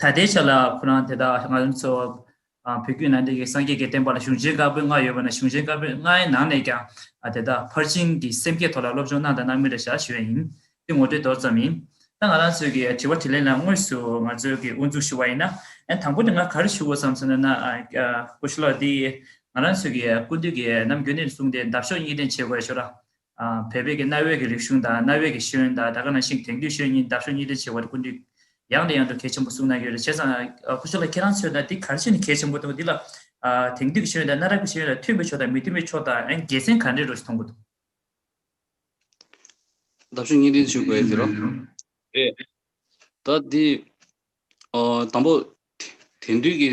ད་ལྟའི་ཆ་ལ་ཁོ་རང་དེ་དག་ང་ཚོ་ཚོ་བོད་བརྒྱུད་ནང་བསྟན་གྱི་སངས་རྒྱས་ཀྱི་བསྟན་པ་ལ་གཞུང་ཆེན་དཀར་པོའི་ལྔ་ཡོད་པ་ན་གཞུང་ཆེན་དཀར་པོའི་ལྔའི་ནང་ནས་ཀྱང་དེ་དག་ཕར་ཕྱིན་གྱི་སེམས་བསྐྱེད་ཐོག་ལ་སློབ་སྦྱོང་གནང་དང་གནང་མུས་ལ་བཞག་ཞུས་པ་ཡིན། འདི་ངོ་སྤྲོད་མདོར་ཙམ་ཡིན། ད་ང་རང་ཚོས་ཀྱི་དྲི་བ་དྲིས་ལན་ལ་དངོས་སུ་ང་ཚོས་ཀྱི་དབུ་འཛུགས་ཞུ་བ་ཡིན་ན། དང་པོ་ནས་ང་ག་རེ་ཞུ་དགོས་སམ་ཟེར་ན་ན། སྐུ་ཞུ་ལགས་འདི་ཡིས་ང་རང་ཚོས་ཀྱི་ཀུན་འདུས་ཀྱི་ནམ་རྒྱུན་ནས་བཟུང་སྟེ་འདབ་གཤོག་གཉིས་ལྡན་བྱེད་དགོས་ཞོར་ལ། བལ་བོད་ཀྱི་གནའ་བོའི་གི་རིག་གཞུང་དང་གནའ་བོའི་གི་ཤེས་ཡོན་དང་ད་ག་ནང་བཞིན་དེང་དུས་ཤེས་ཡོན་གཉིས་འདབ་ཤོག་གཉིས་ལྡན་བྱེད་དགོས་རེད་ཀུན་དུ་ཡང་ནས་ཡང་དུ་གལ་ཆེན་པོ་གསུངས་གནང་ཡོད་རེད་བྱས་ཙང་ཁོ་ཚོ་ལ་ཁྱེད་རང་ཚོས་ན་འདི་གར་ཆེ་ནས་གལ་ཆེན་པོ་འདུག་འདི་ལ་དེང་དུས་ཀྱི་ཤེས་ཡོན་དང་གནའ་རབས་ཀྱི་ཤེས་ཡོན་ལ་མཐུན་པའི་ཕྱོགས་དང་མི་མཐུན་པའི་ཕྱོགས་དང་ཡང་དགེ་མཚན་ག་འདྲས་རོ་ཞེས་མཐོང་གི་འདུག། འདབ་ཤོག་གཉིས་ལྡན་བྱེད་དགོས་ཟེར་རོ། རེད་ད། འདི་དང་པོ་དེང་དུས་ཀྱི་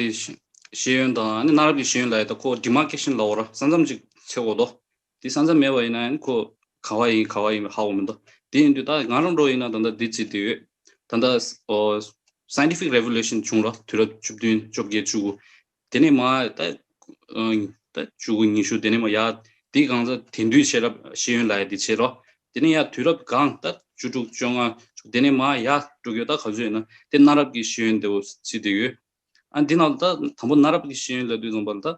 ཤེས་ཡོན་དང་གནའ་རབས་ཀྱི་ཤེས་ཡོན་ལ་ཡོད་ད་ཁོ་འདི་མ་ཁེགས་ཤིང་ལ་འོ་ར་ས་མཚམས་ཅིག་འཚེ་འོ་དོ་དེ་ས་མཚམས་མེད་པ་ཡིན་ན་ཡང་ཁོ། ག་བ་ཡིན་ག་བ་ཡིན་པའི་ཧ་བོ་མི་འདུག་དེ་ཡིན་དུས་ད་ང་རང་འགྲོ་ཡིན་ན་ད་ལྟ་དེ་བྱས་དེ་ཡོད། ད་ལྟ། Scientific Revolution བྱུང་རོགས་དུས་རབས་བཅུ་བདུན་བཅོ་བརྒྱད་བཅུ་དགུ། དེ་ནས་མ། ད། ད་བཅུ་དགུ་ཉི་ཤུ་དེ་ནས་མ་ཡ། དེའི་སྒང་ད་དེང་དུས་ཤེས་རབ་ཤེས་ཡོན་ལ་ཡ་དེ་བྱས་རོགས། དེ་ནས་ཡ་དུས་རབས་སྒང་ད་བཅུ་དྲུག་བཅོ་ལྔ་བཅུ་དེ་ནས་མ་ཡ། དྲུག་ཡོད་ད་ག་ཚོད་ཡིན་ན་དེ་གནའ་རབས་ཀྱི་ཤེས་ཡོན་དེ་བོ་བྱས་དེ་ཡོད། ཨ་འདི་ནང་དུ་ད་དང་པོ་གནའ་རབས་ཀྱི་ཤེས་ཡོན་ལ་དུས་བཟང་པ་ལ་ད།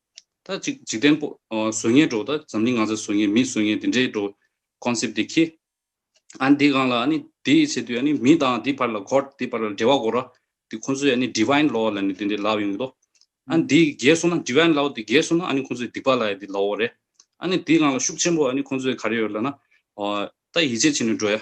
ད་ཅིག་འཇིག་རྟེན་པོ། བཟོ་ངན་འགྲོ། ད་འཛམ་གླིང་ང་ཚ་བཟོ་ངན་མི་བཟོ་ངན་འདི་འདྲའི་འགྲོ། Concept དེ་ཁྱི། ཨ་ནི་འདི་གང་ལ་ཨ་ནི་འདི་ཡི་ཆེད་དུ་ཨ་ནི་མི་དང་འདི་བར་ལ God འདི་བར་ལ་འབྲེལ་བ་གོ་ར། འདི་ཁོང་ཚོའི་ཨ་ནི Divine Law ལ་ནི་འདི་འདྲའི་ལག་ཡོང་གི་དོ། ཨ་ནི་འདི་རྒྱལ་སོང་ན Divine Law འདི་རྒྱལ་སོང་ན་ཨ་ནི་ཁོང་ཚོའི་སྡིག་པ་ལ་ཡི་འདི་ལའོ་རེད། ཨ་ནི་འདི་གང་ལ་ཤུགས་ཆེན་པོ་ཨ་ནི་ཁོང་ཚོའི་ག་རེ་ཡོད་ལ་ན། ད་ཡིད་ཆེས་བྱེད་ནི་འགྲོ་ཡ།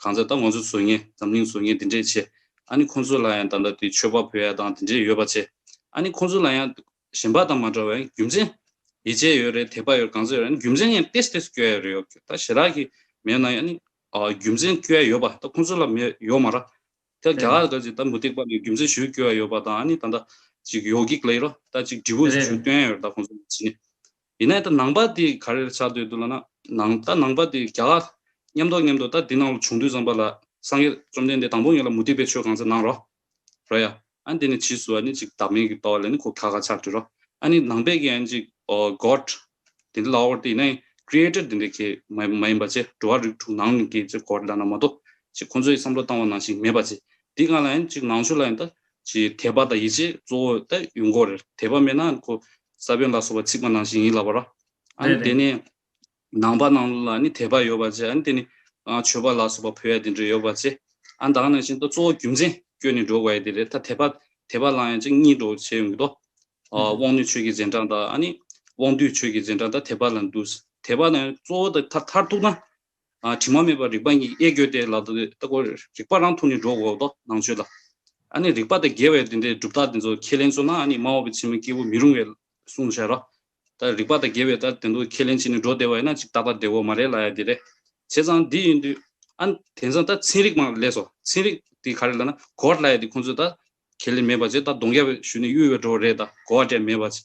གང་ཚེ་ད་ང་ཚོའི་བཟོ་ངན་འཛམ་གླིང་བཟོ་ངན་འདི་འདྲས་ཆེ་ཨ་ནི་ཁོང་ཚོ་ལ་ཡང་ད་ལྟ་དེ་ཆོས་པ་བོད་ཡ་དང་དེ་འདྲས་ཡོད་པ་ཆེ་ཨ་ནི་ཁོང་ཚོ་ལ་ཡང་གཞན་པ་དང་མ་འདྲ་བའི་རྒྱུ་མཚན་ཡི་ཆད་ཡོད་རེད་དད་པ་ཡོད་རེད་གང་ཚེ་ཡོད་རེད་ཨ་ནི་རྒྱུ་མཚན་ཡང་ཏེས་ཏེས་སྐྱོ་ཡ་རེད་ཡོད་ཁྱོད་ད་ཞེ་དྲག་གི་མེད་ན་ཡང་ཨ་ནི་རྒྱུ་མཚན་སྐྱོ་ཡ་ཡོད་པ་ད་ཁོང་ཚོ་ལ་མེད་ཡོད་མ་ར་ད་རྒྱ་གར་དང་ཅིག་ད་མུ་སྟེགས་པ་ནས་རྒྱུ་མཚན་ཞུ་སྐྱོ་ཡ་ཡོད་པ་དང་ཨ་ནི་ད་ད་ཅིག་ཡོ་གིག་ལེ་རོ་ད་ཅིག་འབྲི་བུ་ཞུ་སྟོན་ཡ་ཡོད་རེད་ད་ཁོང་ཚོ་ལ་ཅི་ནས་ཡིན་ནའི་ད་ནང་པ་དེ་ག་རེར་ཆགས་སྡོད་འདུག་ལ་ན། ནང་ད་ནང་པ་དེ་རྒྱ་ག། ཉམས་རྟོགས་ཉམས་འདུག་ད་འདི་ནང་ལོ་བྱུང་དུས་ཙམ་པ་ལ། སངས་རྒྱས་བཅོམ་ལྡན་འདས་དང་པོ་ངེད་ལ་མུ་སྟེགས་པའི་ཆོས་གང་ཚེ་གནང་རོ། རོ་ཡ། ཨ་ནི་འདི་ནི་ཕྱིས་སུ་ཨ་ནི་ཅིག་བདག་མེད་ཀྱི་རྟོག་བ་ལས་ནི་གོ་ཁ་ག་ཆགས་འདྲི་རོ། ཨ་ནི་ནང་པས་ཀྱི་ཨ་ནི་ཅིག། God། དེ་འདི་ལ་ཨོར་ཏེ་ཡིན་ནའི། Creator དེ་འདི་ཁྱེད། མ་ཡིན་པ་ཅེ་འགྲོ་བ་རིགས་དྲུག་ནང་ནི་ཀྱེ་ཅེ་གོ་ལ་ན་མ་གཏོགས། ཅེ་ཁོ་ཚོའི་བསམ་བློ་བཏང་བ་ནང་བཞིན་མེད་པ་ཅེ། འདི་གང་ལ་ཨ་ནི་ཅིག་ནང་ཆོས་ལ་ཡིན་ད། ཀྱི་དད་པ་དང་ཡིད་ཆེས་གཙོ་བོ་དེ་ཡོད་འགོ་རེད། དད་པ་མེད་ན་ཁོ་ས་བོན་ལ་སོགས་པ་ཚིག་པ་ནང་བཞིན་ཡིན་ལབ་པ་ར། ཨ་ནི་དེ་ནས་ནང་པ་ནང་ལ་ནི་དད་པ་ཡོད་པ་ཅེ་ཨ་ནི་དེ་ནི་ཆོས་པ་ལ་སོགས་པ་བོད་ཡ་དེ་འདྲ་ཡོད་པ་ཅེ་ཨ་ནི་ད་ག་ནང་བཞིན་དུ་གཙོ་བོ་རྒྱུ་མཚན་བསྐྱོན་ནས་འགྲོ་དགོས་ཡ་དེ་རེད་ད་དད་པ་དད་པ་ལང་ཡ་ཅིག་གཉིས་འགྲོ་བྱས་ཡོད་འདུག་དོ། དབང་ནུས་ཆོས་ཀྱི་རྗེས་འབྲང་དང་ཨ་ནི་དབང་འདུས་ཆོས་ཀྱི་རྗེས་འབྲང་ད་དད་པ་ལ་འདུག་དད་པ་ནི་གཙོ་བོ་དེ་མཐར་ཐར་ཐུག་ན་དྲི་མ་མེད་པར་རིག་པ་ཉིད་ཀྱིས་དབྱེ་དགོས་ཏེ། ལ་དྭགས་ཀྱི་རིག་པ་རང་ཐུགས་ནི་སྒྲོག་གོ་དོ་སྣང་བརྗོད་ལ། ཨ་ནི་རིག་པ་དང་འགལ་བའི་དོན་དེ་གྲུབ་རྟགས་དེ་ཚོ་ཁས་ལེན་བཟོ་ན་ཨ་ནི་སྨྲ་བ་པོའི་ཚིག་མི་སྐྱེ་བོ་མི་རུང་བས་གསུང་དུ་བྱ་རོ། ད་རིག་པ་དང་འགལ་བའི་ལྟར་དེ་ཚོ་ཁས་ལེན་བྱས་ནས་སྒྲོག་བདེ་བ་ཡིན་ན་ཅིག་རྟག་པར་བདེ་བོ་མ་རེད་ལ་ཡང་དེ་རེད། བྱས་ཙང་འདི་ཡིན་དུས། ཨ་ནི་དེང་སང་ད་ཚན་རིག་མང་ལས་སོ། ཚན་རིག་དེ་ག་རེ་ལ་ན་གོ་བ་སླ་ཡ་དེ་ཁོང་ཚོས་ད་ཁས་ལེན་མེད་པ་བྱས་ད་གདོང་རྒྱ་བས་ཞུས་ནས་གཡུལ་བས་འགྲོ་བ་རེད་ད་གོ་བ་འདྲ་མེད་པ་བྱས།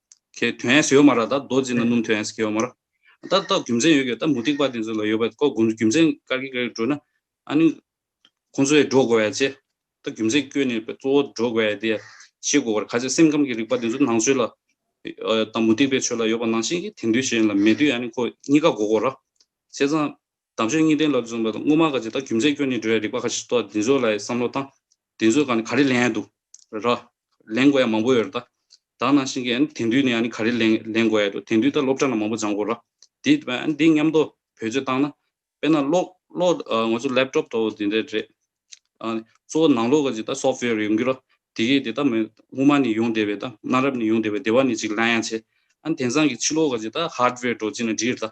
ཁའི་དོན་ཨེས་ཡོད་མ་ར་ད་རྡོ་རྗེ་ན་སྣུམ་དོན་ཨེས་ཁའི་ཡོད་མ་ར། ད་ལྟ་རྒྱུ་མཚན་ཡོད་གི་ད་མུ་ཏིག་པ་དེ་ཚོ་ལ་ཡོད་པ་ཀོ་དགུ་རྒྱུ་མཚན་དཀར་གིག་རེ་བྲོས་ན་ཨ་ནི་ཁོང་ཚོའི་འགྲོ་དགོས་ཡ་ཅེ། ད་རྒྱུ་མཚན་བསྐྱོད་ནས་པའི་གཙོ་བོ་འགྲོ་དགོས་ཡ་དེ་ཡ་ཤེས་དགོས་པར་ཁ་ཅིག་སེམས་ཁམས་ཀྱི་རིག་པ་དེ་ཚོ་ནང་ཆོས་ལ་ད་མུ་ཏིག་པའི་ཆོས་ལ་ཡོད་པ་ནང་བཞིན་གྱི་དེ་འདུས་གཞན་ལ་མེད་དུས་ཨ་ནི་ཁོ་གཉིས་ཀ་འགོ་དགོས་ར། བྱས་ཙང། དམ་ཆོས་གཉིས་ལྡན་ལ་བརྩོན་པ་དང་དངོས་མ་ག་ཅི་དང་རྒྱུ་མཚན་སྐྱོན་ནི་འགྲོལ་བའི་རིགས་པ་ཁ་ཅིག་ཏུ་བདེན་བཟོ་ལ་ཡི་བསམ་བློ་དང། བདེན་བཟོས་གང་ནི་ག་རེ་ལན་ཡང་འདུག་ར། ལེན་དགོས་ཡ་མང་པོ་ཡོད་ར་ད། དག་ནང་བཞིན་གྱི་དེང་དུས་ནི་ཡང་ནི་ག་རེ་ལན་ལེན་དགོས་ཡ་འདུག་དེང་དུས་ད་སློབ་གྲྭ་ན་མང་པོ་སྦྱང་དགོས་ར། དེ་འདི་མཉམ་དུ་བོད་ཆོས་བཏང་ན། དཔེར་ན་གློག་གློག་ང་ཚོ་ལེབ་ཀྲོབ་ཏོ་དེ་འདྲས་རེད། གཙོ་བོ་ནང་ལོག་ག་ཅིག་ད་སོབ་ཕི་ཡོར་ཡོང་རྒྱུ་ར། དེ་གས་དེ་ད་མི་དབུ་མ་ནི་ཡོང་བདེ་བས་ད་གནའ་རབས་ནི་ཡོང་བདེ་བས་བདེ་བ་ནི་ཅིག་ལན་ཡང་བྱས། ཨ་ནི་དེང་སང་གི་ཕྱི་ལོག་ག་ཅིག་ད་ཧརྡ་བེར་འགྲོ་ཅིག་ན་འགྲིག་ར་ད།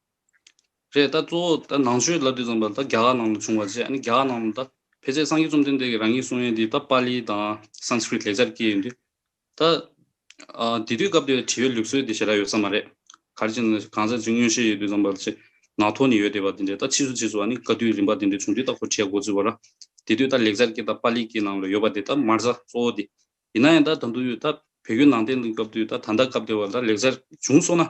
རེད་ད་གཙོ་བོ་ད་ནང་ཆོས་ལབ་དུས་ཙམ་པ་ད་རྒྱ་གར་ནང་དུ་བྱུང་བ་བྱས་ཨ་ནི་རྒྱ་གར་ནང་དུ་ད་ཕལ་ཆེར་སངས་རྒྱས་བཅོམ་ལྡན་འདས་ཀྱི་རང་ཉིད་གསུང་ཡོན་འདི་ད་པཱ་ལི་དང Sanskrit ལེགས་སྦྱར་སྐད་ཡིན་དུས། ད་དེ་དུས་སྐབས་དེར་བྲིས་པའི་ལུགས་སྲོལ་དེ་ཞེ་དྲག་ཡོད་ས་མ་རེད། གར་གྱི་ནང་གང་ཟག་ཅིག་མངོན་ཤེས་ཡོད་དུས་ཙམ་པ་ལ་ཆེས་ནག་ཐོག་ནས་ཡོད་བསྡད་པ་དེ་འདྲས་ད་ཕྱིས་སུ་ཕྱིས་སུ་ཨ་ནི་བཀའ་བསྡུས་རིམ་པ་དེ་འདྲས་བྱུང་དུས་ད་ཁོ་བྱས་འགོ་བཙུགས་པ་ར་དེ་དུས་ད་ལེགས་སྦྱར་སྐད་ད་པཱ་ལི་སྐད་ནང་ལ་ཡོད་པ་དེ་ད་མར་བཟའ་གཙོ་བོ་དེ། ཡིན་ན་ཡང་ད་ད་འདུག་ཡོད་ད་བོད་བརྒྱུད་ནང་བསྟན་དུ་སྐབས་དུས་ད་ད་ལྟ་སྐབས་དེ་བར་ད་ལེགས་སྦྱར་བྱུང་སོང་ན་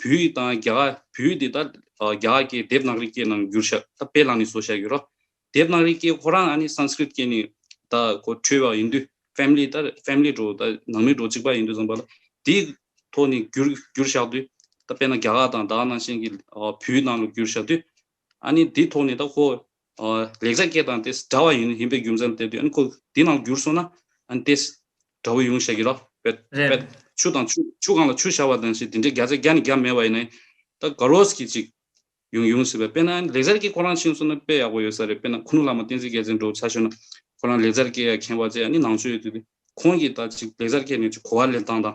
བུ་ཡི་དང་རྒྱ། བུ་ཡི་དེ་ལྟར་རྒྱ་སྐད་དེབ་ནག་རིག་སྐད་ནང་བསྒྱུར་བཞག་ད་དཔེ་བླངས་ནས་བཟོ་བཞག་ཡོད་རོ། དེབ་ནག་རིག་སྐད་ཁོ་རང་ཨ་ནི Sanskrit སྐད་ནས་ད་གོ་འཕྲོས་བ་ཡིན་དུས Family ད Family འགྲོ་ད་ནང་མི་འགྲོ་གཅིག་པ་ཡིན་དུས་བཟང་པ་ལ་དེའི་ཐོག་ནས་བསྒྱུར་བསྒྱུར་བཞག་དུས་ད་དཔེ་ན་རྒྱ་དང་ད་ནང་བཞིན་གྱི་བུའི་ནང་ལ་བསྒྱུར་བཞག་དུས་ཨ་ནི་དེའི་ཐོག་ནས་ད་ཁོ་ལེགས་བྱ་སྐད་དང་དེས་འདྲ་བ་ཡིན་པའི་རྒྱུ་མཚན་བསྟན་ཏེ། འཁོར་འདི་རྣམས་བསྒྱུར་སོང་ན། དེས་འདྲ་བོ་ཡོང་བཤད་ཀྱི་རོ། ཆུ་དང་ཆུ་གང་ལ་ཆུ་བྱ་བ་དང་ཞེས་འདི་འདྲའི་བརྒྱ་ཆ་བརྒྱ་ནི་བརྒྱ་མེད་བ་ཡིན་ནའི། ད་ག་རོ་སྐད་ཅིག་ཡང་ཡོང་སྲིད་པས་དཔེར་ན་ལེགས་བྱར་སྐད་ཁོ་རང་ཕྱིན་སོང་ན་དཔེ་ཡག་པོ་ཡོད་ས་རེད་དཔེར་ན་ཁུ་ནུ་བླ་མ་བསྟན་འཛིན་རྒྱལ་མཚན་འགྲོ་བ་ཆ་ཤོས་ན། ཁོ་རང་ལེགས་བྱར་སྐད་ཡག་མཁྱེན་པ་བཅས་ནི་ནང་ཆོས་ཡོད་དུས་ཏེ། ཁོང་གིས་ད་ཅིག་ལེགས་བྱར་སྐད་ནས་ཅིག་གོ་བ་ལེན་སྟངས་དང།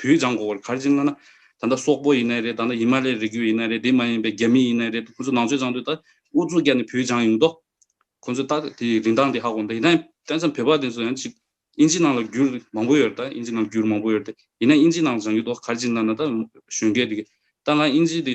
བུའི་ལྗང་མགོ་བར་གར་སྦྱིན་ལ་ན། ད་ལྟ་སོག་པོ་ཡིན་ནའི་རེད་ད་ལྟ་ཡི་མ་ལའི་རིགས་རྒྱུད་ཡིན་ནའི་རེད་དེ་མ་ཡིན་པའི་རྒྱ་མི་ཡིན་ནའི་རེད་ཁོང་ཚོ་ནང་ཆོས་སྦྱང་དུས་ད་ཨུ་ཚུགས་བསྐྱལ་ནས་བུའི་ལྗང་ཡོང་དོ། ཁོང་ཚོས་ད་དེ་རིན་ཐང་དེ་ཧ་གོ་འདོད་ཡིན་ན་དེང་སང་བོད་པ་དེ་ཚོ་ཡང་ཅིག་ཨིན་ཇི་ནང་ལ་རྒྱུར་མང་པོ་ཡོད་རེད་ད་ཨིན་ཇི་ནང་རྒྱུར་མང་པོ་ཡོད་རེད་ད་ཡིན་ན་ཨིན་ཇི་ནང་ལྗང་རྒྱུ་དོ་གར་སྦྱིན་ལ་ན་ད་གཞོན་སྐད་དེ་གི་ད་ང་ཨིན་ཇི་དེ།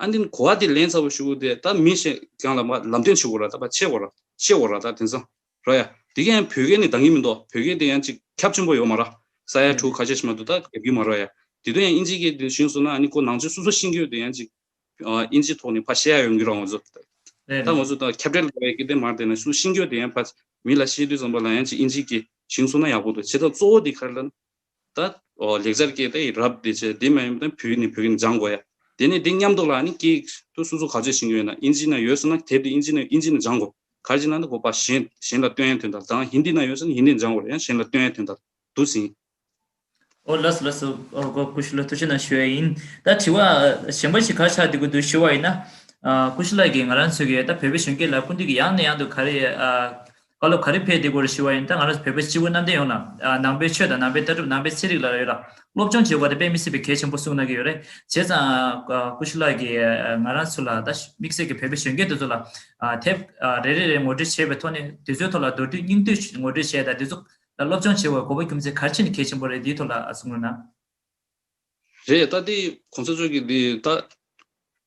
ཨ་འདི་གོ་བ་དེ་ལན་ཚ་བོ་ཞུ་གོ་དེ་ད་མི་ཞེ་གང་ལ་མ་ལམ་སྟོན་བྱེད་གོ་ར་ད་པ་ཆེ་གོ་ར་ཤེས་གོ་ར་ད་དེང་སང་ར་ཡ་དེ་ག་ཡང་བོད་སྐད་ནི་འདང་གི་མི་འདོ་བོད་སྐད་དེ་ཡང་ཅིག་ཁྱབ་ཆེན་པོ་ཡོ་མ་ར་ས་ཡ་ཕྲུག་ཁ་ཤས་ཤི་མ་དུ་ད་རྒྱབ་གི་མ་ར་ཡ་དེ་དོན་ཡང་ཨིན་ཇི་སྐད་དེ་བཞིན་སོ་ན་ཨ་ནི་གོ་ནང་ཆོས་སུ་སུ་ཤིང་གོ་དེ་ཡང་ཅིག་ཨིན་ཇི་ཐོག་ནི་ཕ་ཤེ་ཡ་ཡོང་གི་ར་ངོ་ཚོ་ད་ངོ་ཚོ་ད་ཁྱབ་བྲལ་གོ་བའི་སྐད་དེ་མ་དེ་ན་སུ་ཤིང་གོ་དེ་ཡང་ཕ་མི་ལ་ཤེས་དུས་ཙམ་པ་ལ་ཡང་ཅིག་ཨིན་ཇི་སྐད་བཞིན་སོ་ན་ཡག་པོ་འདུག་བྱེད་ཐབས་གཙོ་བོ་དེ་ག་རེ་ལ་ན་ད། ལེགས་སྦྱར་སྐད་དེ་ཡིས་རབས་འདི་བྱས་འདི་མ་ཡིན་པ་བུ་ནི་བུ་གིན་སྦྱང་དགོས་ཡ། དེ་ནས་འདི་མཉམ་འདུག་ལ་ནི་སྐད་དུ་སོ་སོ་ག་ཚོད་ཤིང་ཡོད་ན་ཨིན་ཇི་ན་ཡོད་ཟེར་ན་དེབ་དེ་ཨིན་ཇི་ན་ཡོད་ཨིན་ཇི་ན་སྦྱང་དགོས། ག་ཅི་ན་ནི་བོད་པ་གཞན་གཞན་ལ་སྟོན་ཡ་དོན་དང་དང་ཧིན་དི་ན་ཡོད་ཟེར་ན་ཧིན་དི་ན་སྦྱང་དགོས་ཡ་གཞན་ལ་སྟོན་ཡ་དོན་དང་དུ་ཟིན། ཨོ་ལགས་ལགས་སུ་ཨོ་ཀུ་ཤི་ལགས་ཐུགས་ཆེ་གནང་ཞུ་ཡ་ཡིན་ད་དྲི་བ་གཞན་པ་ཞིག་ག་ཆགས་འདི་གུ་དུ་ཞུ་བ་ཡིན་ན། ཀུ་ཤི་ལགས་ཀྱིས་ང་རང་ཚོའི་གི་ད་བོད་པའི་གཞོན་སྐྱེས་ལ་སྐུ་མདུན་གྱི་ཡང་ནས་ཡང་དུ་ག་རེ་བཀའ་སློབ་ག་རེ་ཕེབས་དེ་སྐོར་ཞུ་བ་ཡིན་ད་ང་རང་བོད་པ་སྤྱི་བོ་གནམ་བསྟན་ཡོངས་ལ་ནང་པའི་ཆོས་དང་ནང་པའི་ལྟ་གྲུབ་ནང་པའི་ཚེ་རིག་ལ་ཡོད་ལ་སློབ་སྦྱོང་བྱེད་དགོས་ད་དཔེ་མི་སྲིད་པའི་གལ་ཆེན་པོ་གསུངས་གནང་གི་ཡོད་རེད་བྱས་ཙང་སྐུ་ཞུ་ལགས་ཀྱིས་ང་རང་ཚོ་ལ་ད་དམིགས་བསལ་གྱི་བོད་པའི་གཞོན་སྐྱེས་དེ་ཚོ་ལ་དེབ་རེ་རེ་རེ་ངོ་སྤྲོད་བྱས་པའི་ཐོག་ནས་དེ་ཚོའི་ཐོག་ལ་མདོར་བསྡུས་སྙིང་བསྡུས་ངོ་སྤྲོད་བྱས་ད་དེ་ཚོ་ལ་སློབ་སྦྱོང་བྱེད་དགོས་གོ་བ་རྒྱུ་མཚན་གལ་ཆེན་ནི་གལ་ཆེན་པོ་རེད་དེའི་ཐོག་ལ་གསུངས་གནང། རེད་ད་དེ་གོང་ས་མཆོག་གིས་དེ་ད།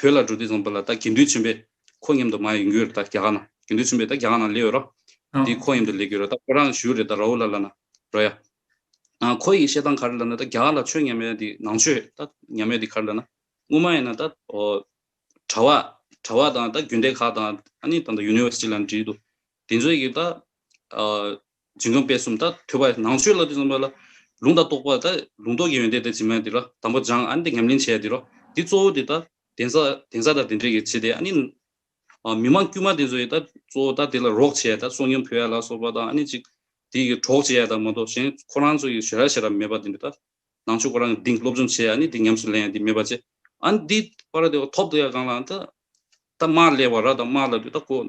བོད་ལ་འགྲོ་དུས་ཙམ་པོ་ལ་ད་དགེ་འདུན་ཆེན་པོས་ཁོ་མཉམ་དུ་མ་ཡོང་རྒྱུར་ད་རྒྱ་གར་ན་དགེ་འདུན་ཆེན་པོས་ད་རྒྱ་གར་ན་ལས་ཡོད་རོགས། དེ་ཁོ་མཉམ་དུ་ལས་དགོས་རོགས་ད་ཁོ་རང་ཞུ་རེད་ད་ར་ཨོ་ལ་ལ་ན་རོ་ཡ། ཨ་ཁོ་ཡི་བཤད་སྟངས་ག་རེ་ལ་ན་ད་རྒྱ་གར་ལ་ཆོས་ཉམས་ཡོད་དེ་ནང་ཆོས་ད་ཉམས་ཡོད་དེ་ག་རེ་ལ་ན་དངུལ་མ་ཡིན་ན་ད་ཨོ། གྲྭ་བ་གྲྭ་བ་དང་ད་རྒྱུན་ལྡན་ཁག་དང་ཨ་ནི་ད་ད་ཡུ་ནི་ཝེར་སི་ཏི་ལ་ན་བྲིས་འདུག་དེ་ཚོས་ཀྱིས་ད་ཨོ། འབྱིན་རྔམ་པས་གསུམ་དང་ཐོས་པ། ནང་ཆོས་ལ་དུས་གསུམ་པ་ལ། ལུང་དང་རྟོགས་པ་དང་ལུང་རྟོགས་ཀྱི་ཡོན་ཏན་དང་སྦྱིན་པ་འདི་ལ་དང་པོ་སྦྱང་ཨ་ནི་ཉམས་ལེན་བྱས་འདི་རོ། འདི་གཙོ་བོ་དེ་དང། གདན་ས་གདན་ས་དང་གདན་འདྲེན་གྱི་བྱེད་དེ་ཨ་ནི། མི་མང་དཀྱུས་མ་དེ་ཚོ་ཡི་དང་གཙོ་བོ་དང་དེ་ལ་རོགས་བྱེད་དང་གསོག་ཉམས་ཕུལ་ཡ་ལ་སོགས་པ་དང་ཨ་ནི་ཅིག། དེ་ཡི་གྲོགས་བྱེད་ཡ་དང་མ་གཏོགས་གཞན་ཁོ་རང་ཚོ་ཡི་ཞེ་ར་ཞེ་ར་མེད་པ་དེ་འདྲ་དང། ནང་ཆོས་ཁོ་རང་གི་འདིང་སློབ་སྦྱོང་བྱེད་ཨ་ནི་དེ་ཉམས་སུ་ལེན་ཡ་དེ་མེད་པ་བྱེད། ཨ་ནི་དེ། པར་དེ་ཐོབ་ཏུ་ཡ་གང་ལའང་དང། དང་དམར་ལས་བ་ར་དང་དམར་ལ་དུས་དང་གོ།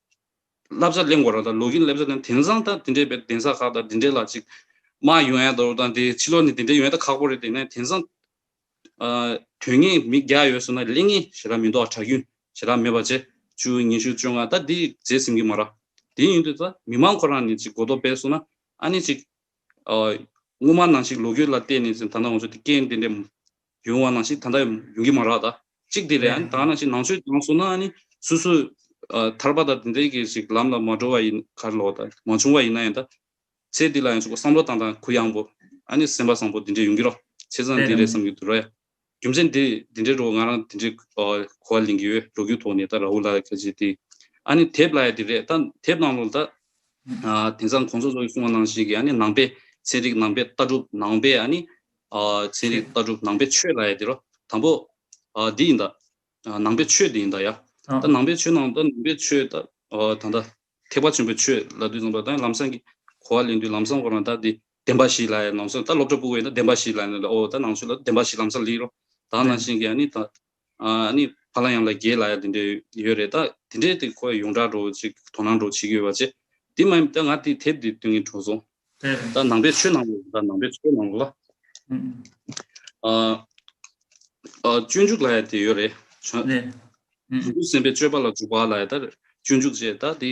བསླབ་བྱ་གླེང་བ་རང་དང་ལོ་གིན་བསླབ་བྱ་དང་དེང་སང་དང་དེ་འདྲའི་བའི་གདན་ས་ཁག་དང་དེ་འདྲའི་ལ་ཅིག་མ་ཡོང་ཡ་འདོར་དང་དེ་ཕྱི་ལོག་ནས་དེ་འདྲའི་ཡོང་ཡ་ད་ཁག་པོ་རེད་དེ་ནས་དེང་སང། དོན་ངན་མི་བརྒྱ་ཡོད་ཟེར་ན་གླེང་ངན་ཞེ་དྲག་མི་འདུག་གྲགས་རྒྱུན་ཞེ་དྲག་མེད་པ་བྱེད་བཅུ་གཉིས་བཞི་བཅོ་ལྔ་ད་འདི་བརྗེད་ཟིན་གི་མ་རག་དེ་ཡིན་དུས་ད་མི་དམངས་ཁོ་རང་ནས་ཅིག་གོ་རྟོགས་སྤེལ་སོང་ན་ཨ་ནི་ཅིག། སྔོན་མ་ནང་ཞིག་ལོ་རྒྱུས་ལ་བལྟས་ནས་ཟིན་ད་ནང་ང་ཚོ་དེ་སྐད་དེ་འདྲའི་ཡོང་བ་ནང་བཞིན་ད་ལྟ་ཡོང་གི་མ་རག་ད་གཅིག་དེ་ལས་ད་ནང་བཞིན་ནང་ཆོས་དྲང་སོང་ན་ནི་སུ་སུ་ཐར་པ་དང་དེ་འདྲས་ཀྱི་ཞིག་ལམ་ལ་མ་འགྲོ་བ་ཡིན་ཁར་ལོག་ད་མ་བྱུང་བ་ཡིན་ན་ཡང་ད་ཚེ་འདི་ལ་ཡང་ཆོག་བསམ་བློ་བཏང་ད་གུ་ཡངས་པོ་ཨ་ནི་སེམས་པ་བཟང་པོ་དེ་འདྲས་ཡོང་གི་རོགས་ཚེ་བཟང་དེ་རེད་བསམ་གྱི་འདུག་ར་ཡ་རྒྱུ་མཚན་དེ་དེ་འདྲས་རོགས་ང་རང་དེ་འདྲས་གོ་བ་ལེན་གྱི་ཡོད་འགྲོ་རྒྱུག་ཐོག་ནས་ད་ར་ཧུ་ལ་ལ་ཁ་ཆེ་དེ་ཨ་ནི་དེབ་ལ་ཡ་དེ་རེད་ད་དེབ་ནང་ལོག་ད་དེང་སང་གོང་ས་ཚོགས་ཀྱི་གསུང་བ་ནང་བཞིན་གྱི་ཨ་ནི་ནང་པའི་ཚན་རིག་ནང་པའི་ལྟ་གྲུབ་ནང་པའི་ཨ་ནི་ཚན་རིག་ལྟ་གྲུབ་ནང་པའི་ཆོས་ལ་ཡ་དེ་རོ། དང་པོ། འདི་ཡིན་ད། ནང་པའི་ཆོས་འདི་ཡིན་ད་ཡ། ད་ནང་པའི་ཆོས་ནང་ད་ནང་པའི་ཆོས་ད། ད་ནི་ད། ཐེག་པ་ཆེན་པོའི་ཆོས་ལ་དུས་མཚུངས་པ་ད་ལམ་སང་གི། གོ་བ་ལེན་དུས་ལམ་སང་གོ་ན་ད་འདི་བདེན་པ་ཞིག་ལ་ཡ་ནང་སང་ད་སློབ་གྲྭ་སྤུ་བས་ན་བདེན་པ་ཞིག་ལ་ཡ་ནི་ད་འོ་ད་ནང་ཆོས་ལ་བདེན་པ་ཞིག་ལམ་སང་ལིག་རོ། ད་ནང་བཞིན་གྱི་ཡ་ནི་ད། ཨ་ནི་ཕ་ལ་ཡང་ལ་རྒྱའི་ལ་ཡ་དེ་འདྲས་ཡོད་རེད་ད་དེ་འདྲས་དེ་ཁོ་ཡ་ཡོངས་གྲགས་འགྲོ་ཅིག་དོ་སྣང་འགྲོ་བྱེད་ཀྱི་ཡོད་པ་ཅེ་དེ་མ་ཡིན་ད་ང་དེ་དེབ་དེ་ཏུན་གྱིན་འཕྲོ་སོང་ད་ནང་པའི་ཆོས་ནང་ལོ་ད་ནང་པའི་ཆོས་ནང་ལོ་ལ་ཨ་ཨ་སྤྱོད་འཇུག་ལ་ཡ་དེ་ཡོད་རེད་བྱང་ཆུབ་སེམས་དཔའི་སྤྱོད་པ་ལ་འཇུག་པ་ལ་ཡ་ད་སྤྱོད་འཇུག་ཅེ་ད་དེ་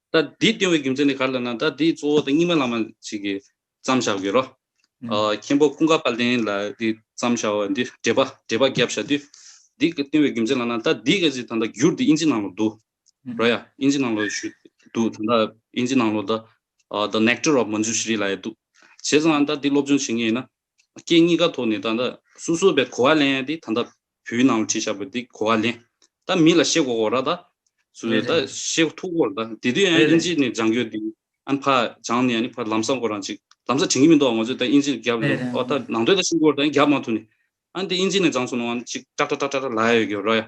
ད་འདིའི་ལྟེ་བའི་རྒྱུ་མཚན་ནི་ག་རེ་ལབ་ན་ད་འདིའི་གཙོ་བོ་དང་རྙིང་མ་ལ་མ་ཞིག་གིས་བརྩམ་བཞག་བརྒྱུད་རོ། མཁན་པོ་ཀུན་དགའ་དཔལ་ལྡན་ལ་འདི་བརྩམ་བཞག་བ་འདི་འགྲེལ་པ་འགྲེལ་པ་བརྒྱབ་བཞག་དུས། འདིའི་ལྟེ་བའི་རྒྱུ་མཚན་ལབ་ན་ད་འདིའི་སྐད་ཅིག་ད་ལྟ་བསྒྱུར་འདི་དབྱིན་ཇི་ནང་ལོ་འདུག་རོ་ཡ། དབྱིན་ཇི་ནང་ལོ་ཞུས་འདུག་ད་ལྟ་དབྱིན་ཇི་ནང་ལོ་ད The Nectar of Manjushri ལ་ཡ་འདུག་བྱས་ཙང་ད་འདི་སློབ་སྦྱོང་བྱེད་ངེས་ཡིན་ན་རྐྱེན་གཉིས་ཀ་ཐོག་ནས་ད་ལྟ་སོ་སོ་བས་གོ་བ་ལེན་ཡ་དེ་ད་ལྟ་བུའི་ནང་ལ་ཁྲིད་བཞག་པ་དེ་གོ་བ་ལེན། ད་མི་ལ་ཤེས་གོ་གོ་ར་ད། སུ་རེད་ད་ཤེས་ཐུག་གོ་ར་ད་དེ་དུས་ཨན་ཨིན་ཇི་ནས་སྦྱང་རྒྱུ་དེ་ཨན་ཕ་སྦྱང་ནས་ཨ་ཕ་ལམ་སང་གོ་རང་ཅིག་ལམ་སང་དྲན་གྱི་མི་འདུག་ང་ཚོས་ད་ཨིན་ཇི་རྒྱབ་འདུག་ཨོ་ད་ནང་དོན་ད་ཤེས་གོ་ར་ད་རྒྱབ་མ་ཐུབ་ནས་ཨན་དེ་ཨིན་ཇི་ནས་སྦྱང་སོང་ནོ་ཨན་ཅིག་ཀྲག་ཀྲག་ཀྲག་ཀྲག་ལ་ཡོད་གི་རོ་ཡ།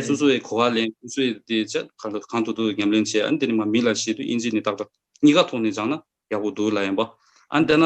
སོ་སོ་བས་གོ་བ་ལེན་སོ་སོས་དེ་ཆ་གང་ཐུག་ཐུག་ཉམས་ལེན་བྱེད་ཨན་དེ་ནས་མ་མི་ལ་ཤེས་དུས་ཨིན་ཇི་ནས་ཏག་ཏག་གཉིས་ཀ་ཐོག་ནས་སྦྱང་ན་ཡག་པོ་འདུག་ལ་ཡང་པ་ཨན་དེ་ན་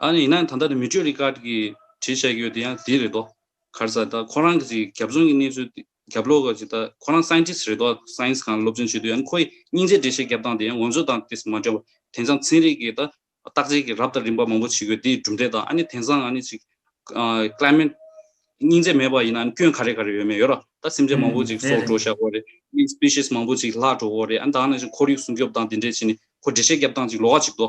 ཨ་ནི་ཡིན་ན་ད་ལྟ་ནི་མི་སྤྱོད་རིགས་ཁག་གིས་བྲིས་བྱས་ཡོད་དེ་ཡང་དེ་རེད་དོ། གར་ས་ད་ཁོ་རང་གི་ཅིག་རྒྱབ་རྫོང་གི་གནས་ཚུལ་དེ་རྒྱབ་ལོག་གི་ཅིག་ད་ཁོ་རང Scientist རེད་དོ Science གང་ལ་སློབ་སྦྱོང་བྱེད་དུས་ཡང་ནི་ཁོ་ཡི་སྙིང་རྗེ་འབྲེལ་བྱེད་རྒྱབ་སྟངས་དེ་ཡང་ངོ་ཚོད་དང་དེ་སྲིད་མ་འདྲ་བར་དེང་སང་ཚན་རིག་གི་ད་བརྟག་དཔྱད་ཀྱི་རབ་དང་རིམ་པ་མང་པོ་བྱེད་དགོས་དེ་ཡི་གྲུབ་འབྲས་དང་ཨ་ནི་དེང་སང་ཨ་ནི་ཅིག Climate སྙིང་རྗེ་མེད་པ་ཡིན་ན་ཨ་ནི་སྐྱོན་ག་རེ་ག་རེ་ཡོད་མེད་ཡོད་ར་ད་སེམས་ཅན་མང་པོ་ཅིག་སྲོག་འགྲོ་བཞག་གོ་རེ Species མང་པོ་ཅིག་བརླག་འགྲོ་གོ་རེ་ཨ་ནི་ད་ཨ་ནི་ཅིག་ཁོར་ཡུག་སྲུང་སྐྱོབ་དང་དེ་འདྲས་བྱས་ནི་ཁོ་འབྲེལ་བྱེད་རྒྱབ་སྟངས་ཅིག་ལོག་ཅིག་དོ།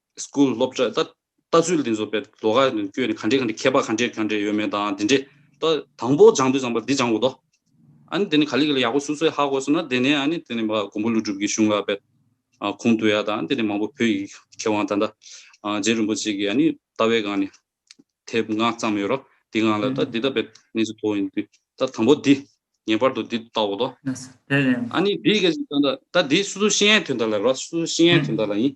School སློབ་གྲྭས་ལྟ་ཚུལ་འདི་ཚོ་དཔེ་ལོ་ཁ་ནས་བསྐྱོད་ནས་ག་འདྲའི་ག་འདྲའི་མཁས་པ་ག་འདྲའི་ག་འདྲའི་ཡོད་མེད་དང་དེ་འདྲའི་ལྟ། དང་པོ་སྦྱང་དུས་སྦྱངས་པ་འདི་སྦྱང་དགོས་ཏོ། ཨཱ་ནི་དེ་ནི་ག་ལི་ག་ལི་ཡག་པོ་སུ་སུའི་ཧ་གོ་སོང་ན་དེ་ནི་ཨཱ་ནི་དེ་ནི་མ་མགོན་པོ་ཀླུ་སྒྲུབ་ཀྱི་གཞུང་ལ་དཔེ། ཁུངས་བཏུ་ཡ་དང་དེ་ནི་མང་པོ་བོད་ཡིག་མཁས་དབང་ད་ལྟ། རྗེ་རིན་པོ་ཆེ་གི་ཨཱ་ནི་ལྟ་བའི་སྒང་ནས། དེབ་ལྔ་བརྩམས་ཡོད་རོ། དེ་སྔ་ལ་ལྟ་འདི་ལྟ་བས་གནས་ཚུལ་མཐོ་ཡིན་དུས་ལྟ་དང་པོ་འདི། ངེས་པར་དུ་འདི་ལྟ་དགོས་ཏོ། ཨཱ་ནི་འདི་ག་ལི་ལྟ་འདི་སུ་སུ་ཤེས་ཡའི་དུས་ལྟ་ལ་རོ་སུ་སུ་ཤེས་ཡའི་དུས་ལྟ་ལ་ཡིན།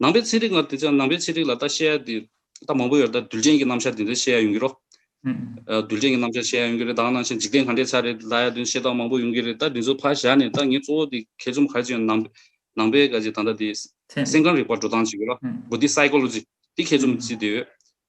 ནང་པའི་ཚན་རིག་ལྔ་དེ་ཅང་ནང་པའི་ཚན་རིག་ལ་ལྟ་བཤད་དེ་ལྟ་མང་པོ་ཡོད་རེད་ད་རྡུལ་ཅན་གྱི་རྣམ་ཤར་དེ་འདྲའི་བཤད་ཡ་ཡོང་གི་རོ། རྡུལ་ཅན་གྱི་རྣམ་ཤར་བཤད་ཡ་ཡོང་གི་རེད་དྭང་ནང་བཞིན་འཇིག་རྟེན་གང་འདྲའི་ཆ་རེད་ལ་ཡ་དོན་བཤད་སྟངས་མང་པོ་ཡོང་གི་རེད་ད་འདི་ཚོ་ཕར་བཞག་ནས་ད་ངས་གཙོ་བོ་དེ་གལ་ཆུམ་གར་ཅིག་ཡོང་ནང་པའི་ག་ཅིག་ད་ལྟ་དེ། སེམས་ཁམས་རིག་པ་འགྲོ་སྟངས་ཅིག་ཡོད་ལ། Buddhist Psychology། དེ་གལ་ཆུམ་ཅིག་དེ་ཡོད།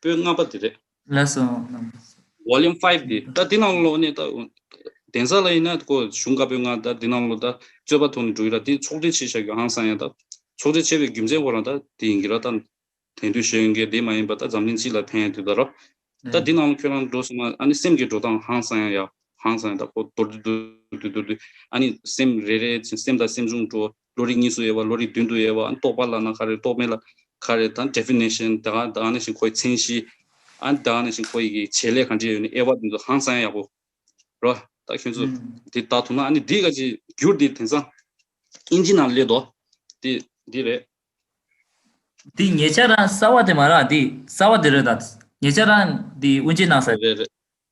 པོད་ལྔ་པ་འདི་རེད། ལེགས་སོ་རྣམས། Volume Five འདི་ད་འདི་ནང་ལོགས་ནས་ད། གདན་ས་ལ་ཡིན་ན་ཀོ་གཞུང་བཀའ་པོད་ལྔ་ད་འདི་ནང་ལོགས་ད་རྩོད་པ་ཐོག་ནས་འགྲོ་གི་ར་འདི་ཚོགས་སྒྲིག་བྱེད་བཞག་གི་ཧང་སང་ཡ་ད། ཚོགས་སྒྲིག་བྱས་པའི་རྒྱུ་མཚན་ཁོ་རང་ད་འདི་ཡིན་གི་ར་ད། དེང་དུས་བཤད་ཡོན་གའི་སྡེ་མ་ཡིན་པ་ད་འཛམ་གླིང་སྤྱི་ལ་ཕན་ཡ་དུས་ད་ར། ད་འདི་ནང་ལོགས་ཁྱོད་རང་འགྲོ་སོང་ན་ཨ་ནི་སེམས་ཀྱི་འགྲོ་སྟངས་ཧང་སང་ཡ་ཧང་སང་ཡ་ད་ཁོ་དོར་དུས་དོར་དུས་དོར་དུས་ཨ་ནི་སེམས་རེ་རེ་བཞིན་སེམས་ད་སེམས་བྱུང་འགྲོ། ལོ་རེ་གཉིས་སུ་དབྱེ་བ་ལོ་རེ་བདུན་དུ་དབྱེ་བ་རྟོགས་པ་ལ་ན་ག་རེ་རྟོགས་མེད་ལ་ག་རེ་དང Definition དེ་གང་དེ་གང་ནས་བཞིན་ཁོ་ཡི་མཚན་གཞི་དེ་གང་ནས་བཞིན་ཁོ་ཡི་གི་བྱེད་ལས་གང་ཅི་ཡོད་ནི་དབྱེ་བ་དེ་ཚོ་ཧང་སང་ཡག་པོ་རོ། ད་ཁྱོད་ཚོས་དེ་བལྟ་ཐུབ་ན་ནི་འདི་ག་ཅིག་འགྱུར་འདི་དེང་སང་ཨིན་ཇི་ནང་སླེབས་དོ་དེ་འདི་རེད། འདི་ངེད་ཅག་རང་གསར་བ་དེ་མ་རག་འདི་གསར་བ་དེ་རེད་ད། ངེད་ཅག་རང་འདི་དབུ་འབྱེད་གནང་ས། རེད་རེད།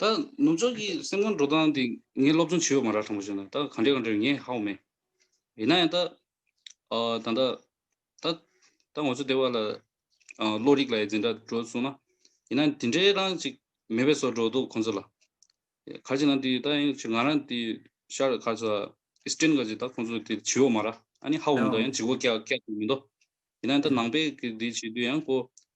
ད་ནུབ་ཕྱོགས་ཀྱི་སེམས་ཁམས་འགྲོ་སྟངས་དེ་ངས་སློབ་སྦྱོང་བྱས་ཡོད་མ་རག་དྲང་པོ་བཤད་ན་ད་གང་འདྲའི་གང་འདྲའི་ངས་ཧའོ་མེད། ཡིན་ན་ཡང་ད་ད་ལྟ་ད་ད་ང་ཚོ་དེ་བ་ལ་བློ་རིག་ལ་ཡི་འཛིན་འདྲ་འགྲོ་སོང་ན་ཡིན་ན་དེ་འདྲའི་རང་ཅིག་མེད་པའི་སོར་འགྲོ་འདུག་ཁོང་ཚོ་ལ། ག་ཅིག་ན་དེ་ད་ཡང་ཅིག་ང་རང་དེ་ཤར་ག་ཚོ Eastern ག་ཅིག་ད་ཁོང་ཚོ་དེ་བྱས་ཡོད་མ་རག་ཨ་ནི་ཧའོ་མེད་དོ་ཡང་ཅིག་བོ་སྐྱག་སྐྱག་ཡིན་མི་འདུག་ཡིན་ན་ད་ནང་པའི་གི་དེ་བྱས་དུས་ཡང་ཀོ་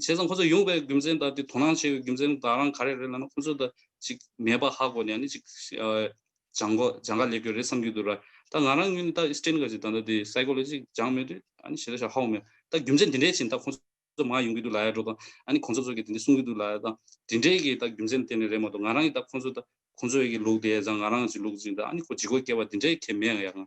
བྱས་ཙང་ཁོ་ཚོ་ཡོང་བའི་རྒྱུ་མཚན་དང་དེ་དོ་སྣང་བྱས་པའི་རྒྱུ་མཚན་དང་རང་ག་རེ་རེད་ལབ་ན་ཁོ་ཚོ་དང་ཅིག་མེད་པ་ཧ་གོ་ནས་ནི་ཅིག་སྦྱང་གོ་སྦྱང་ག་ལས་དགོས་རེད་བསམ་གྱི་འདུག་ར་ད་ང་རང་ངོས་ནས་ད་སྤྲེལ་ག་ཅིག་ད་ལྟ་དེ Psychology ཅིག་སྦྱང་མོད་དུས་ཨ་ནི་བྱས་ད་ཤ་ཧ་གོ་མོད་ད་རྒྱུ་མཚན་དེ་འདྲའི་ཕྱིན་ད་ཁོ་ཚོ་མང་ཡོང་གི་འདུག་ལ་ཡར་འགྲོ་དང་ཨ་ནི་གོང་ས་མཆོག་གིས་དེ་འདྲའི་གསུང་གི་འདུག་ལ་ད་དེ་འདྲའི་གི་ད་རྒྱུ་མཚན་གཏན་ནས་རེད་མ་གཏོགས་ང་རང་གི་ད་ཁོ་ཚོ་ད་ཁོ་ཚོའི་གི་ལུགས་དེ་ད་ང་རང་ཅིག་ལུགས་ཅིག་ད་ཨ་ནི་ཁོ་ཇི་གོ་སྐྱེ་བ་དེ་འདྲའི་གལ་མེད་ཡ་ང།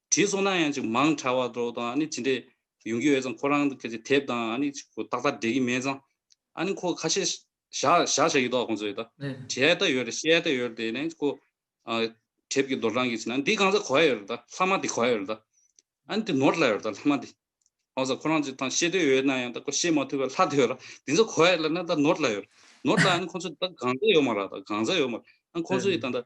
བྲིས་སོང་ན་ཡང་ཅིག་མང་དྲགས་བ་འདྲོགས་དང་ཅི་འདྲས་ཡོང་གི་ཡོད་ཙང་ཁོ་རང་དེབ་དང་ཅིག་ཏག་ཏག་འབྲེལ་གི་མེད་ཙང་ཨ་ནི་ཁོ་ཁ་ཤས་བཞག་བཞག་ཡོད་དོ་ཁོང་ཚོས་དྲི་ཨེ་ལྟ་ཡོད་རེད་ཤེས་ཨེ་ལྟ་ཡོད་རེད་དེ་ཁོ་དེབ་ཀྱི་རྡོར་གྲངས་ཀྱི་ཕྱི་ན་འདི་གང་ཟག་གོ་ཨེ་ཡོད་རེད་ལྷག་མ་དེ་གོ་ཨེ་ཡོད་རེད་ཨ་ནི་དེ་ནོར་སླ་ཡོད་རེད་ལྷག་མ་དེ་ཨོ་ཟ་ཁོ་རང་ཅིག་ཐང་ཤེས་འདོད་ཡོད་ན་ཡང་ཁོ་ཤེས་མ་ཐུབ་པས་ལྷག་དེ་ཡོད་ར་དེ་ཚོ་གོ་ཨེ་ལ་ན་ནོར་སླ་ཡོད་རེད་ནོར་སླ་ཨ་ནི་ཁོང་ཚོས་ད་གང་ཟག་ཡོད་མ་ར་ད་གང་ཟག་ཡོད་མ་ར་ཨ་ཁོང་ཚོས་ད་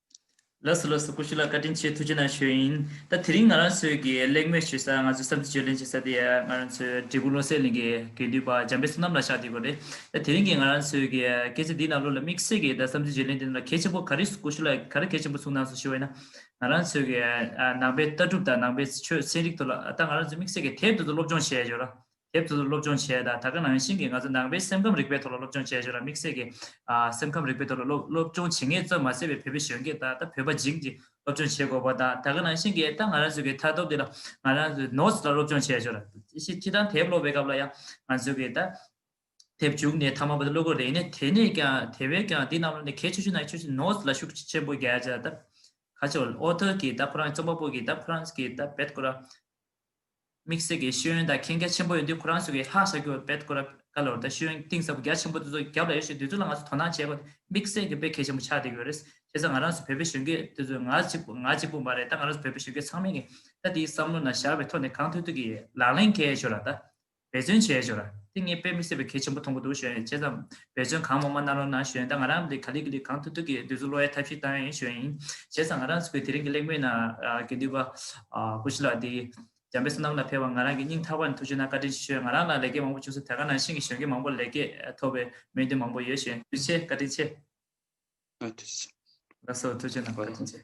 ལགས་སོ་ལགས་སོ་ཀུ་ཤུ་ལགས་བཀའ་དྲིན་ཆེ་ཐུགས་རྗེ་གནང་ཞུ་ཡིན་ད་དེ་རིང་ང་རང་ཚོས་ཀྱི་གླེང་མོལ་བྱེད་ས་ང་ཚོས་བསམ་ཚུལ་བརྗོད་ལེན་བྱེད་ས་དེ་ང་རང་ཚོས་འབྲས་སྤུངས་བློ་གསལ་གླིང་གི་དགེ་འདུན་པ་འཇམ་དཔལ་བསོད་ནམས་ལ་ཕྱག་བྲིས་དགོས་རེད་ད་དེ་རིང་གི་ང་རང་ཚོས་ཀྱི་སྐད་ཆ་འདི་རྣམས་བློ་ལ་དམིགས་བསལ་གྱི་ད་བསམ་ཚུལ་བརྗོད་ལེན་དེ་རྣམས་ལ་གལ་ཆེན་པོ་ག་རེ་ཀུ་ཤུ་ལགས་ག་རེ་གལ་ཆེན་པོ་ཚུགས་གནང་སོང་ཞུ་བ་ཡིན་ན་ང་རང་ཚོས་ཀྱི་ནང་པའི་ལྟ་གྲུབ་དང་ནང་པའི་ཆོས་ཚན་རིག་ཐོག་ལ་ད་ང་རང་ཚོས་དམིགས་བསལ་གྱི་དེབ་དེ་ཚོ་སློབ་སྦྱོང་བྱས་ཡོད་ར་དེབ་ཐོག་ཏུ་སློབ་སྦྱོང་བྱས་ད་ད་ག་ནང་བཞིན་གྱི་ང་ཚོ་ནང་པའི་སེམས་ཁམས་རིག་པའི་ཐོག་ལ་སློབ་སྦྱོང་བྱས་བྱས་ལ་དམིགས་བསལ་གྱི་སེམས་ཁམས་རིག་པའི་ཐོག་ལ་སློབ་སྦྱོང་བྱེད་ངེས་གཙོ་མ་ཟད་པའི་བོད་པའི་གཞོན་སྐྱེས་དག་ད་བོད་པ་འཇིག་འཇིག་སློབ་སྦྱོང་བྱེད་དགོས་པ་དང་ད་ག་ནང་བཞིན་གྱི་ད་ང་རང་ཚོའི་གི་མཐའ་སྟོབས་འདི་ལ་ང་རང་ཚོའི notes ལ་སློབ་སྦྱོང་བྱས་བྱས་ལ་ཕྱི་ཕྱི་དང་དེབ་སློབ་པའི་སྐབས་ལ་ཡང་ང་ཚོའི་གི་ད་དེབ་བྱུགས་ནས་ཐ་མ་པ་ད་སློབ་གོ་རེ་ནས་དེ་ནས་ཀྱང་དེ་བས་ཀྱང་འདི་རྣམས་ལ་ནི་གལ་ཆེ་ཆུ་ནའི་ཆུ་ཆུ notes ལ་ཤུགས་ཆེན་པོ་རྒྱལ་བྱས་ད་ཁ་ཆེ་བ author གྱི་ད་ཁོ་རང་རྩོམ་པ་པོ་གྱི་ད་ཁོ་རང་གི་ད་བེད་ཀོ་ར་དམིགས་བསལ་གྱི་ཤེས་ཡོན་དང་མཁྱེན་རྒྱ་ཆེན་པོ་ཡོད་དུས་ཁོ་རང་ཚོ་གིས་ལྷག་བྱ་རྒྱུ་བ་འབད་དགོས་ར་ག་ལོར་ད་ཤེས་ཡོན་གཏིང་ཟབ་རྒྱ་ཆེན་པོ་དེ་ཚོ་རྒྱབ་ལ་ཡོད་ཤེས་དེ་ཚོ་ལ་ང་ཚོ་དོ་སྣང་བྱེད་དགོས་དམིགས་བསལ་གྱི་དཔེ་གལ་ཆེན་པོ་ཆགས་བསྡད་ཀྱི་ཡོད་རེད་བྱས་ཙང་ང་རང་ཚོ་བོད་པའི་གཞོན་སྐྱེས་དེ་ཚོ་ང་གཅིག་པུ་ང་གཅིག་པུ་མ་རེད་ད་ང་རང་ཚོ་བོད་པའི་གཞོན་སྐྱེས་ཚང་མས་ངེད་ད་དེའི་བསམ་བློ་ན་ཞར་བའི་ཐོག་ནས་གང་ཐུབ་ཐུབ་ཀྱིས་ལག་ལེན་གལ་ཆོད་ལ་ད་འབད་བརྩོན་བྱས་ཞོར་ཏིང་ངེ་དཔེ་མི་སྲིད་པའི་གལ་ཆེན་པོ་མཐོང་གི་འདུག་གཞོན་ཡིན་བྱས་ཙང་འབད་བརྩོན་གང་མང་མང་གནང་རོགས་གནང་གཞོན་ད་ང་རང་ལས་ག་ལེ་གི་ལས་གང་ཐུབ་ཐུབ་ཀྱིས་འདོད་གཟུགས་བློ་ཡ་ཐབས་ཤེས་བཏང་ཡིན་གཞོན་ཡིན་བྱས་ཙང་ང་རང་ཚོ་གི་དེ་རིང་གི་གླེང་མོལ་ནང་གི་འདུས་པ་སྐུ་ཞི་ལགས་འདིས་འཇམ་དཔལ་བསོད་ནམས་ལ་ཕེབས་བར་ང་རང་གི་སྙིང་ཐག་པ་ནས་ཐུགས་ཆུང་གནང་བཀའ་དྲིན་ཆེ་ཞུ་ཡ་ང་རང་ལ་ལས་ཀའི་མང་པོ་བྱུང་ས་དེ་ག་ནང་བཞིན་གྱི་གཞོན་སྐྱེས་མང་པོ་ལ་ལས་ཀའི་ཐོབ་པའི་སྨོན་འདུན་མང་པོ་ཡོད་གཞོན་ཡིན་ཆེ་བཀའ་དྲིན་ཆེ། བཀའ་དྲིན་ཆེ། ལ་སོགས་ཐུགས་ཆུང་གནང་བཀའ་དྲིན་ཆེ།